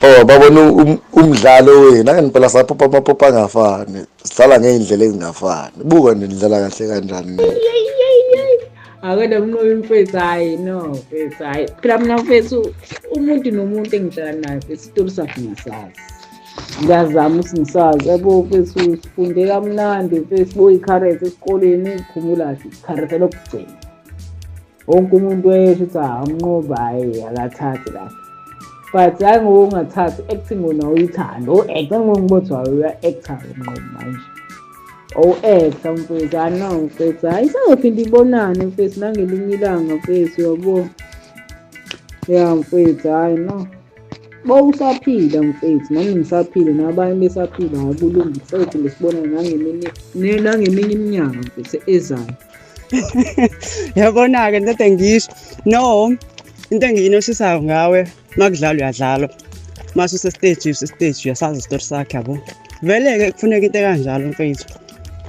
Oh babona um, umdlalo wenu angempela saphopa amaphopa angafani sidlala ngey'ndlela ezingafani buka nje nidlala kahle kanjani akwena mnqobi mfethu hhayi no mfethu hhayi phela mina mfethu umuntu nomuntu engihlala naye mfethu isitori sakhe ngisazi ngiyazama ukuthi ngisazi yabo mfethu sifunde kamnandi mfethu boyikharethe esikoleni ngikhumula kahle ikharethe lokugcina wonke umuntu wayesho ukuthi awumnqoba hhayi akathathi kahle but hayi ngokungathathi acting wona uyithanda u-acta ngongibotha wayo uya-acta umnqobo manje owu-acta mfethu ano mfethu hhayi isangophinde ibonane mfethu nangelinye ilanga mfethu yabo ya mfethu hhayi no bowusaphila mfethu nami ngisaphile nabanye besaphila hhayi kulungi sophinde sibonane nangeminye iminyaka mfethu ezayo yabona-ke into engisho no into engiyinoshisayo ngawe uma kudlalwa uyadlalwa uma susesteji usesteji uyasazi isitori sakhe yabo vele-ke kufuneka into ekanjalo mfethu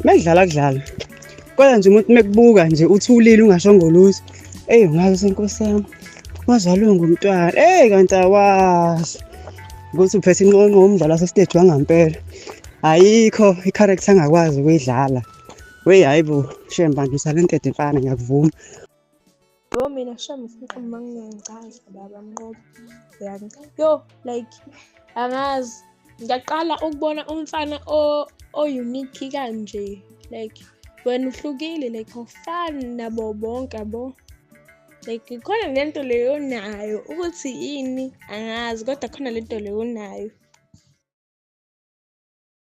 uma kudlala kudlala kodwa nje umuntu uma kubuka nje uthulile ungasho ngoluthi eyi ungazi senkosi yami wazalwe ngumntwana eyi kanti awazi ukuthi uphethe inqonqo umdlalo wasesteji wangampela ayikho i-character angakwazi ukuyidlala Wey hayi bo, shem bangisa le ntethe mfana ngiyakuvuma. Yo mina shem ufuna uma ngingacaza baba mnqobo. Yani. Yo like angazi ngiyaqala ukubona umfana o o unique kanje like wena uhlukile like awufani nabo bonke bo like khona lento leyo nayo ukuthi yini angazi kodwa khona lento leyo nayo